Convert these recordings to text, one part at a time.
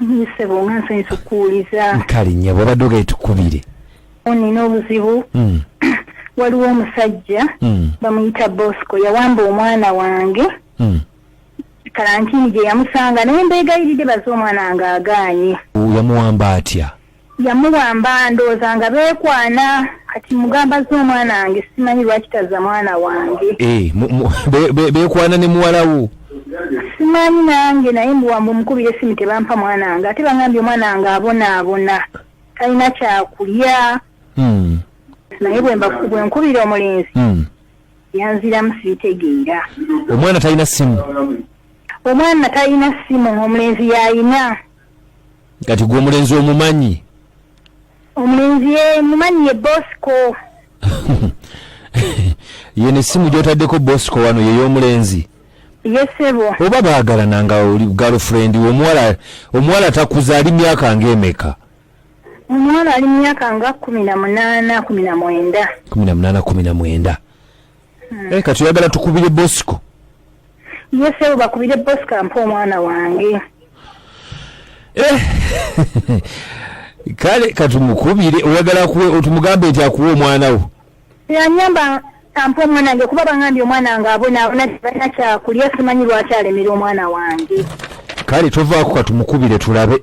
Nsebo nga nsanyusa okukuwuliza. Nkali nnyo bw'obadde ogende tukubire. Nnina obuzibu. Hmm. Waliwo omusajja hmm. bamuyita Bosco yawamba omwana wange. Hmm. Kalantini gye yamusanga naye mbeegayiridde baze omwana ng'agaanye. Yamuwamba atya? Yamuwamba ndowooza nga beekwana kati mugamba zza omwana wange simanyi lwaki tazza mwana wange eh, beekwana ne muwalawo simanyi nange naye mbuwamba omukubira esimu tebampa mwana wange ate bangambye omwana wange abonaabona talina kyakulya hmm. naye bwenkubira omulenzi hmm. yanziramu sibitegeera omwana talina simu omwana talina simu omulenzi yayina kati gwe omulenzi omumanyi omulenzi ye mumanyi ye bosco ye nesimu gyotaddeko bosco wano yeyomulenzi yesebo oba baagalana nga oli girlfriend omuwala omuwala takuza ali myaka ngaemeka omuwala ali myaka nga kumi na munaana kumi na mwenda kumi na munaana kumi na mwenda hmm. eh, kati oyagala tukubire bosco yesebo bakubire bosco ampa omwana wange eh. kale katumukubire oyagala kuwe tumugambe nti akuwe omwana wo yanyamba ampa omwana wange kuba bangambye omwana wange abonaabona tebalina kyakulya simanyi lwaki alemera omwana wange kale tovaako katumukubire tulabe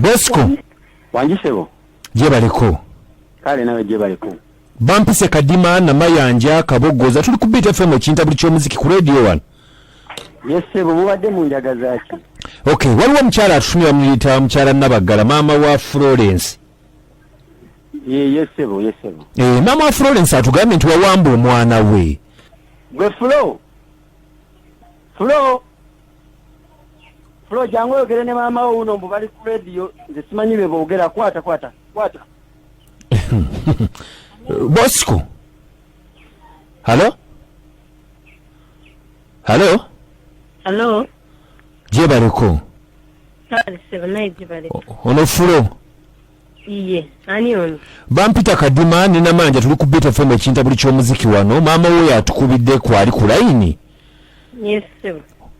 bosco wanjisebo jebaleko kale nawe jebaleko bampise kadima namayanja kabogoza tuli ku bit fm ekintabuli kyomuziki ku radio one yesebo mubadde munjagazaki ok waliwo omukyala atutumye bamuyita mukyala nabaggala maama wa florence yesebo yesebo eh, maama wa florence atugambye nti wawamba omwana we gwe flo Flo Flo jangu oyogere ne maama wo uno mbu bali ku radio nze simanyi bye boogera kwata kwata kwata Bosco Halo Halo Halo Je bareko Kale se banaye je bareko Ono Flo Iye ani ono Bampita kadima nina manja tuli ku beta fm ekinta buli kyomuziki wano maama wo yatukubidde kwali ku line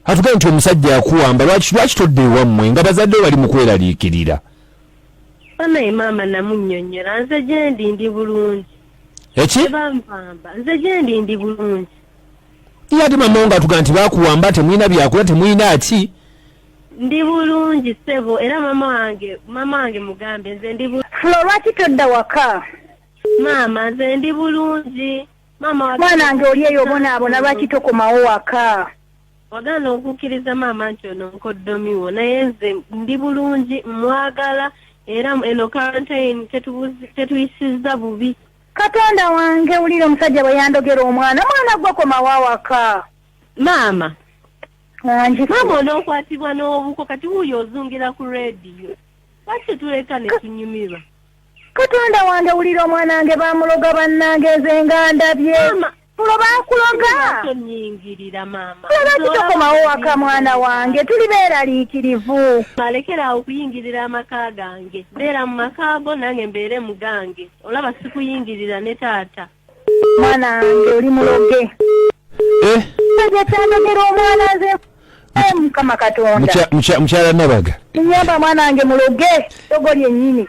atuga nti omusajja yakuwamba lwaki lwaki todda ewammwe nga bazadde bali mu kweraliikirira banaye maama namunyonyola nze gyendi ndi bulungi eki banvamba nze gyendi ndi bulungi ye ate mama wo ngaatuga nti bakuwamba temulina byakola temulina ki ndi bulungi sebo era mama wange mama wange mugambe nze ndi flo lwaki todda waka maama nze ndi bulungi mwana nge oli eyo obonaabona lwaki tokomawo waka wagaana okukkiriza maama nti ono nkoddomiwo naye nze ndi bulungi mwagala era eno quarantine tetuyisizza bubi katonda wange wulira omusajja bwe yandogera omwana mwana gwe komawo awaka maama maama onookwatibwa n'obuko kati wuuyo ozungira ku rediyo lwaki tetuleka ne tunyumirwa Katonda wange wulira omwana wange bamuloga bannange nze nga ndabye tulo bakuloga lwaki tokomawo waka mwana wange tuli beeraliikirivu alekera awo okuyingirira amaka gange beera mu makaago nange mbeere mu gange olaba sikuyingirira ne taata mwana wange oli muloge eh? ekyandogera omwana nze eh, mukama katonda mukyala nabaga nyamba mwana wange muloge dogo lyenyini